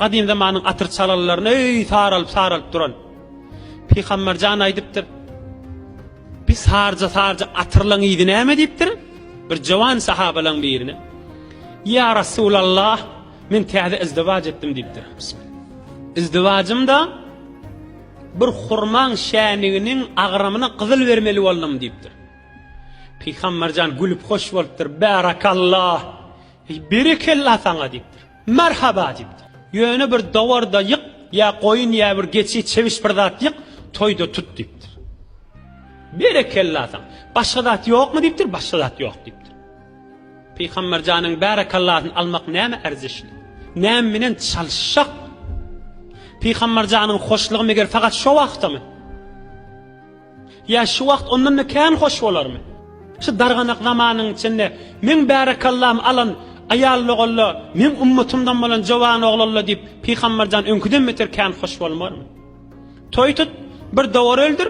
Gadym zamanyň atyr çalalaryny öý saralyp saralyp duran Pygamber jan aýdypdyr. Bir sarja sarja atyrlaň ýedi näme diýipdir? Bir jawan sahabalaň birine. Ya Resulallah, men täze izdiwac etdim diýipdir. Izdivajym da bir hurmaň şäniginiň agramyna gyzyl bermeli boldum diýipdir. Pygamberjan gülüp hoş bolupdyr. Barakallah. Berekella saňa diýipdir. Merhaba! diýipdir. Ýöne bir dowar-da ýyk, ýa goýun, ýa bir geçi, çebiş bir zat ýyk, toýda tut, diýipdir. Berekella saňa! Başga zat ýokmy? diýipdir, başga zat ýok, diýipdir. Pygamber janyň bärekallasyny almak nämä erzişli? Näme bilen çalyşjak? Pygamber janyň hoşlugy meger fakat şo wagtamy? Ýa şu wagt ondan-da kän hoş bolarmy? Şu darganak zamanyň içinde meň bärekallam alan aýallogolla, meň ummatymdan bolan jowanoglalla diýip Pygamberjan öňküden beter kän hoş bolmarmy? Toý tut, bir dowar öldür,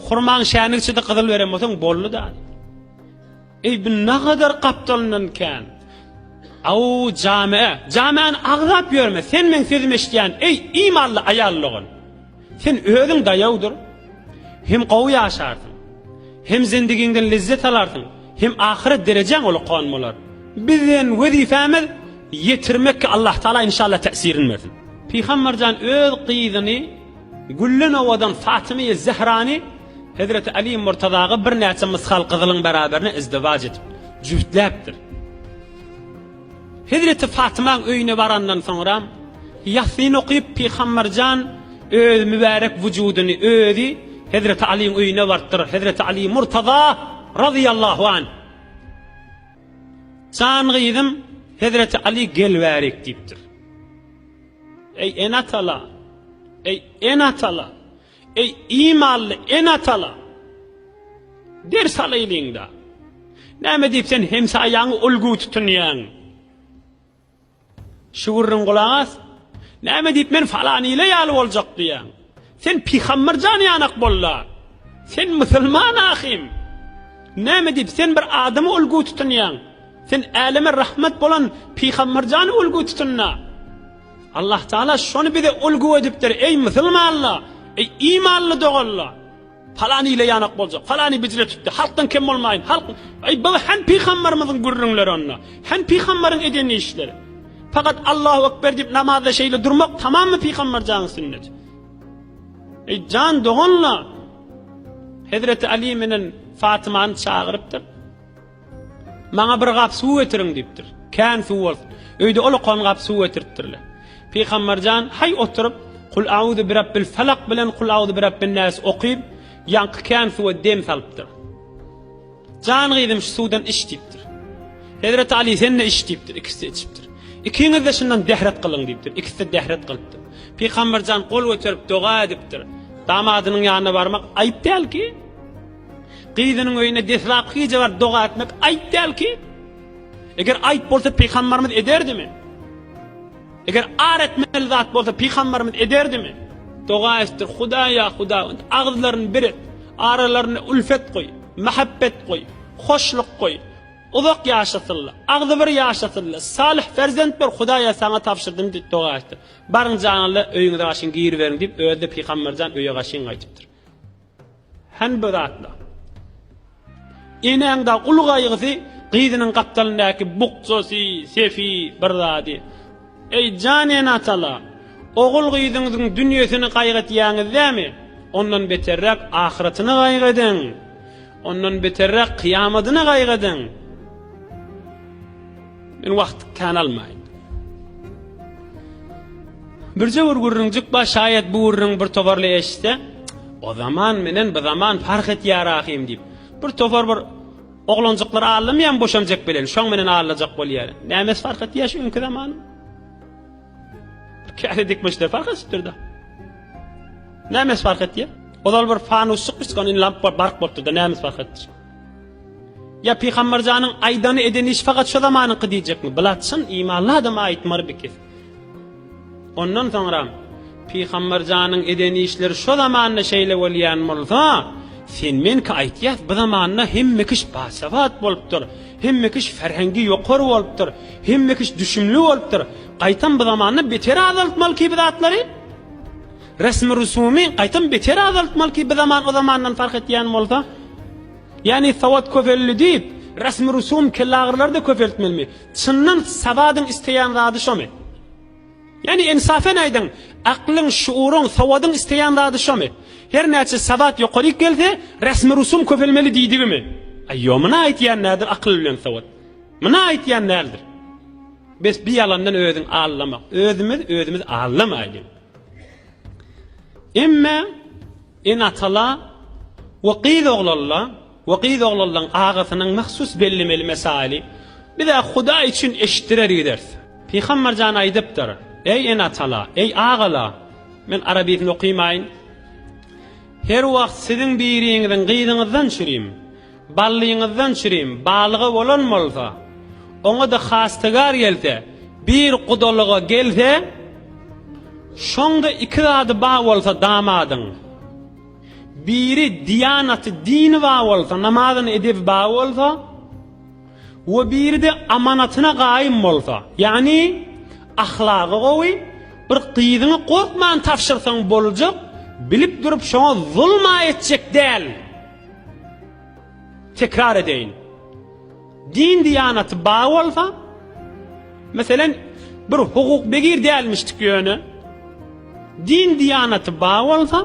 hurmaň şäni içidi gyzyl beren bolsaň boldy-da. Eý bu nagadar gapdalyndan kän. Aw jame, jamäni agzap ýörme, sen meň sözümi eşidýän, eý imanly aýal dogan. Sen özüň daýawdyr. Hem gowy ýaşarsyň. Hem zendigiňden lezzet alarsyň, hem ahyret derejäň ulakan bolar. Biziň wezipämiz ýetirmekki Allahtaala inşallah täsirin bersin. Pygamberjan öz gyzyny. Güllen owadan Fatymy-ýy Zehrany hezreti Aly Murtazaga birnäçe mysgal gyzylyň beraberine izdiwaç edip, jübütläpdir. Hezreti Fatymaň öýüne barandan soňram, Ýasyn okyp, Pygamber jan öz mübärek wujudyny özi hezreti Alyň öýüne barypdyr. Hezreti Aly Murtaza razyýallahu anh, Jan gyzym, hezreti Aly gel bärik diýipdir. Eý, ene-atalar! Eý, ene-atalar! Eý, imanly ene-atalar! Ders alaýlyň-da! Näme diýip sen hemsaýaňy ulgy tutunýaň? Şu gürrüň gulak as! Näme diýip men falan ile ýaly boljak diýýäň? Sen pygamber jany ýanak bolla. Sen musulman ahym. Näme diýip sen bir adamy ulgu tutunýaň? Sen äleme rahmet bolan pygamber jany ulgu tutunna. Allah Taala şony bize ulgu edipdir. Eý musulmanlar, eý imanly doganlar. Palany ile ýanak boljak, palany bijre tutdy, halkdan kem bolmaýyn, halk, eý, bu hem pygambarymyzyň gürrüňleri onda, hem pygambaryň eden işleri. Fakat Allahu ekber diýip namazda şeýle durmak tamamy pygambarjanyň sünneti. Eý, jan doganlar, Hezreti Ali menen Fatymany çagyrypdyr. Maňa bir gap suw getiriň diýipdir. Kän suw bolsun. Öýde olakan gap suw getiripdirler. Pygamberjan haý oturyp, Kul auzu birabbil falak bilen Kul auzu birabbin nas okyp, ýaňky kän suwa dem salypdyr. Jan gyzym şu suwdan iç diýipdir. Hezreti Ali sen-de iç diýipdir, ikisi içipdir. Ikiňiz-de şundan dehret gylyň diýipdir. Ikisi-de dehret gylypdyr. Pygamberjan gol göterip doga edipdir. Damadynyň ýanyna barmak aýyp dälki? Gyzynyň öýüne deslapky gije baryp doga etmek aýp däl ki. Eger aýp bolsa pygambarymyz ederdimi? Eger ar etmeli zat bolsa pygambarymyz ederdimi? Doga etdir, Hudaý ýa Hudaý, agyzlaryny bir et, aralaryna ülfet goý, mähebbet goý, hoşluk goý, uzak ýaşasynlar, agzybir ýaşasynlar, salyh perzent ber, Hudaýa saňa tabşyrdym diýip doga etdir. Baryň janyňyza öýüňize gaşyň giriberiň diýip özi-de pygamberjan öýe gaşyň gaýdypdyr. Hänbe zatla. Enäň da uly gaýgysy gyzynyň gapdalyndaky bukjasy, sefi bir zady. Eý, jan ene-atala, ogul-gyzyňyzyň dünýesini gaýgytýaňyz dämi? Ondan beterräk ahyratyny gaýgydyň. Ondan beterräk kyýamadyny gaýgydyň. Men wagt kän almaýyn. Birje bir gürrüňjik bar, şaýat bu gürrüň bir toparly eşitse, o zaman menen bu zaman fark etýär ahym diýip. Bir topar bir oglanjyklar allamyam boşanjak bilen, şoň menen allajak bolýar. Nämes fark etýär şu öňki zaman? Käre dikmişler fark etipdir-de. Nämes fark etýär? Ozal bir fanusçyk biçkan in lamp bark bolupdy-da, nämes fark etdi? Ýa Pygamberjanyň aýdany edeni iş fakat şu zamanyňky diýjekmi? Bilat çyn imanly adama aýtmar bikis. Ondan soňram Pygamberjanyň edeni işleri şu zamanda şeýle bolýan bolsa, sen menki aýtýas bu zamanda hemme kiş basabat bolupdyr. Hemme kiş ferhengi ýokar bolupdyr. Hemme kiş düşümli bolupdyr. Gaýtam bu zamanda beter azaltmaly ki bu zatlary. Resmi-rusumy gaýtam beter azaltmaly ki, bizaman o zamandan parh etýän bolsa. Ýagny sowat köpeldi diýip, resmi-rusum kellagyrylar-da köpeltmelimi? Çyndan sowadyň isleýän zady şomy? Ýagny ensafen aýdyň, aklyň, şuuryň, sowadyň isleýän zady şomy? Her näçe sowat ýokaryk gelse, resmi-rusum köpelmeli diýdigimi? Aý, ýo, muny aýtýan nädir akyl bilen sowat? Muny aýtýan näldir? Bes, bi ýalandan özüň aldama. Özümiz özümiz aldamaýlyň. Emme ene-atala we gyz oglalla we gyz oglallaň agasynyň mahsus bellemeli mesaili biz-ä Hudaý üçin eşitdirer gideris. Pygamber jan aýdypdyr, Eý ene-atala, eý agala, men arabisini okymaýyn, her wagt siziň biriňiziň gyzyňyzdan çürim. Ballyňyzdan çirim balyga bolan bolsa, oňa-da hastygar gelse, bir gudalyga gelse, şoňda iki zady bar bolsa damadyň, biri diýanaty, dini bar bolsa, namazyny, edebi bar bolsa we biri-de amanatyna gaýym bolsa, ýagny ahlagy gowy, bir gyzyňy gorkman tabşyrsaň boljak, bilip durup şoňa zulum-a etjek däl. Tekrar edeýin. Din diýanaty bar bolsa, meselen, bir hukuk begir dälmişdik ýöne, din diýanaty bar bolsa,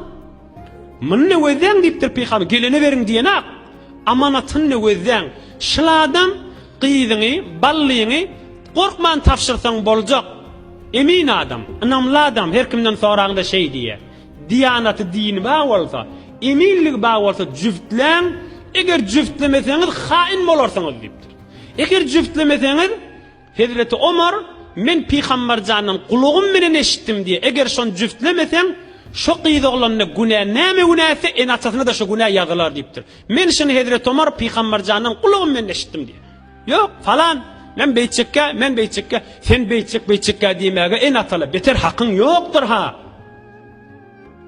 muny nöwezäň diýipdir pygamber, gelene beriň diýenak, amanatyny nöwezäň. Şul adam gyzyňy, ballyňy gorkman tabşyrsaň boljak. Emin adam, ynamly adam, her kimden soraňda şeý diýýär. Diýanaty dini bar bolsa, eminligi bar bolsa jübtläň, eger jübtlemeseňiz haýyn bolarsyňyz diýipdir. Eger jübtlemeseňiz, Hezreti Omar, men Pygamberjandan gulagym bilen eşitdim diýe, eger şony jübtlemeseň, şo gyz oglanyna günä näme günä etse, ene-atasyna-da şo günä ýazylar diýipdir. Men şuny Hezreti Omar Pygamberjandan gulagym bilen eşitdim diýe. Ýok, falan, men beýtjekkä, men beýtjekkä, sen beýtjek, beýtjekkä diýmäge en atala beter hakyň ýokdur-ha!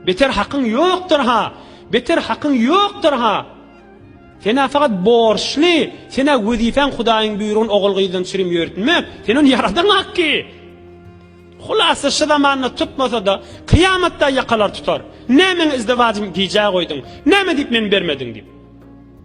Beter hakyň ýokdur-ha! Beter hakyň ýokdur-ha! Sen-ä fakat borçly, sen-ä wezipäň Hudaýyň buýrugyny ogul-gyzdan çürim ýörtmek, sen ony ýaradaňak ki! Hulasa şu zamanda tutmasa-da, kyýamatda ýakalar tutar. Nämäň izdewajym gijä goýduň, näme diýip men bermediň diýip.